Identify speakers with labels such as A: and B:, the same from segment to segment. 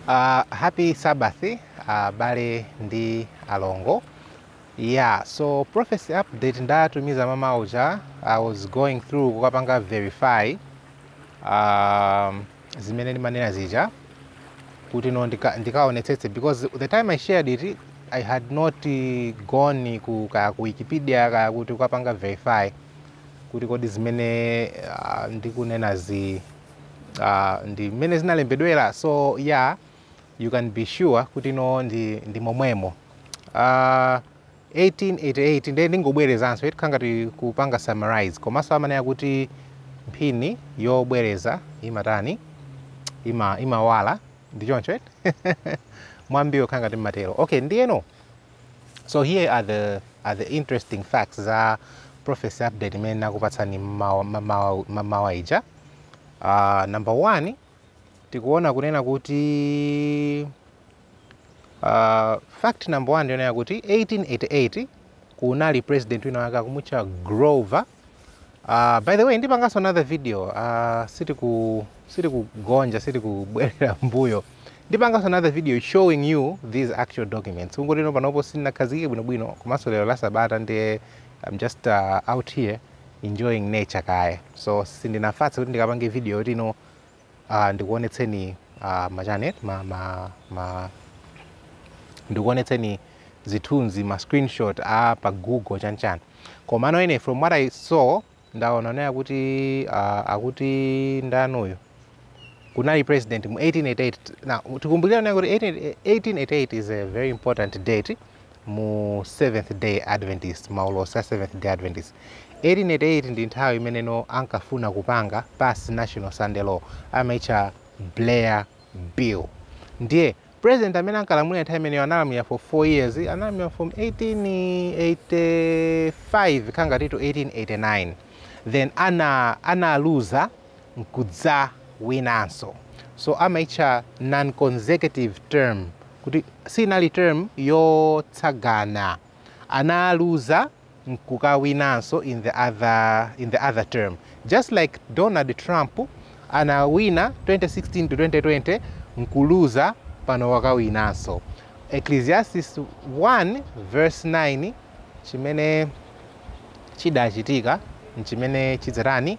A: Uh, happy Sabbath abale uh, ndi alongo yeah so prophecy update ndatumiza mmamawa uja i was going through kukapanga verify um, zimene ndimanena zija kuti no ndikaonetsetse ndika because the time i shared it i had not eh, gone ku kaya ku wikipedia kaya kuti kukapanga verify kuti kodi zimene uh, ndikunenazi uh, ndi mmene zinalembedwera so yeah, you can be sure kuti no ndi, ndi momwemo uh, ah, 1888 ndiye ndingobwerezanso eti nkhangati kupanga summarize komanso amanena kuti mphini yobwereza imatani ima, imawala ndi choncho eti mwambiwo nkhangati umatero okay ndiyeno so here are the, are the interesting facts za prophecy update imene nakupatsani mmamawa ija uh, number one tikuona kunena kuti uh, fact number one ndi yonena kuti 1888 kunali president wina wake akumutcha grover Uh, by the way ndipanganso another video uh, sitiku sitikugonja sitikubwerera mbuyo ndipanganso another video showing you these actual documents kungoti no panopo sindinakhazikike bwinobwino komanso lero la sabata ndiye i'm just uh, out here enjoying nature kaye so sindinafatse kuti ndikapange video yoti no Ah, ndikuonetseni ah, machane ma, ma, ma ndikuonetseni zithunzi ma screenshot a pa google chanichani komano ine from what i saw ndaona kunena kuti ah, akuti ndaniyo kunali president mu 1888 now tikumbukire kunena kuti 1888 is a very important date mu Seventh Day Adventist, maulosi a Seventh Day Adventist. 1888 ndi nthawi imene no ankafuna kupanga pass National Sunday Law, amaitcha Blair Bill. Ndiye president amene ankalamulira nthawi imeneyo analamulira for 4 years, analamulira from 1885 kukhala ngati to 1889 then ana analuza nkudzawinanso. So amaitcha non-consecutive term kuti sinali term yotsogozana, analuza nkukawinanso in the other, in the other term just like Donald Trump anawina 2016 to 2020 nkuluza pano wakawinanso. Ecclesiastes 1 verse 9 chimene chidachitika nchimene chidzatani?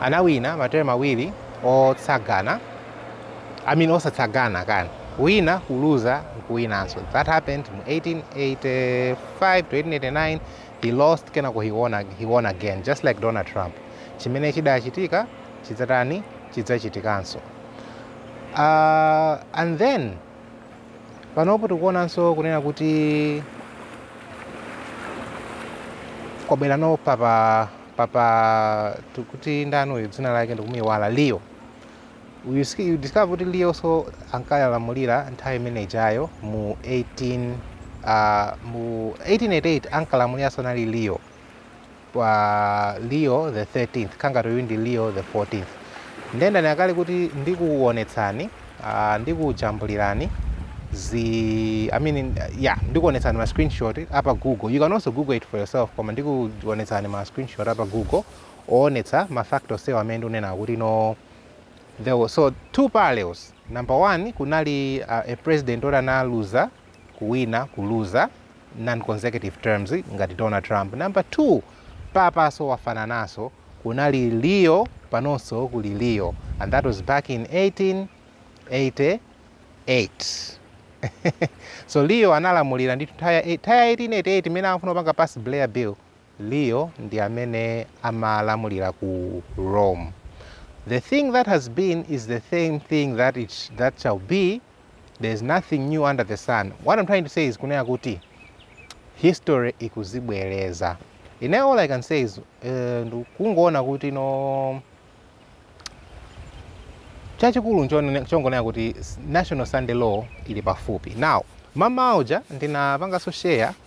A: anawina materm awiri otsagana I mean osatsagana kapena kuwina kuluza nkuwinanso that happened mu 1885 to 1889 he lost kenako he won, ag- he won again just like donald trump chimene chidachitika chidzatani chidzachitikanso uh, and then panopo tikuonanso kunena kuti kwabwera no papa papa tikuti ndani uyu dzina lake ndikumuiwala leo uyu sk- you discover kuti leo so ankalamulira nthawi imene ijayo mu 18 ah, mu 1888 ankalamulira so anali leo pa leo the 13th kaya ngati uyu ndi leo the 14th nde ndanena kale kuti ndikuwonetsani Aaa ndikujambulirani zi I mean yeah ndikuonetsani ma screenshot a pa google you can also google it for yourself koma ndikuonetsani ma screenshot a pa google oonetsa ma fact onsewa amene ndikunenawa kuti no there was so two parallels number one kunali uh, a president oti analuza kuwina, kuluza, non consecutive terms ngati Donald Trump, number 2 papa so wafananaso kunali Leo panonso kuli Leo and that was back in 1888 so Leo analamulira ndithu nthawi ya 1888 mmene amafuna kupanga pass Blair Bill Leo ndi amene amalamulira ku Rome. The thing that has been is the same thing that it that shall be, there is nothing new under the sun. What I'm trying to say is kunena kuti history ikuzibwereza. Ine all I can say is eh, ndu- kungoona kuti no chachikulu nchone- chongonena kuti s- national sunday law ili pafupi now mamawa uja ndinapanganso share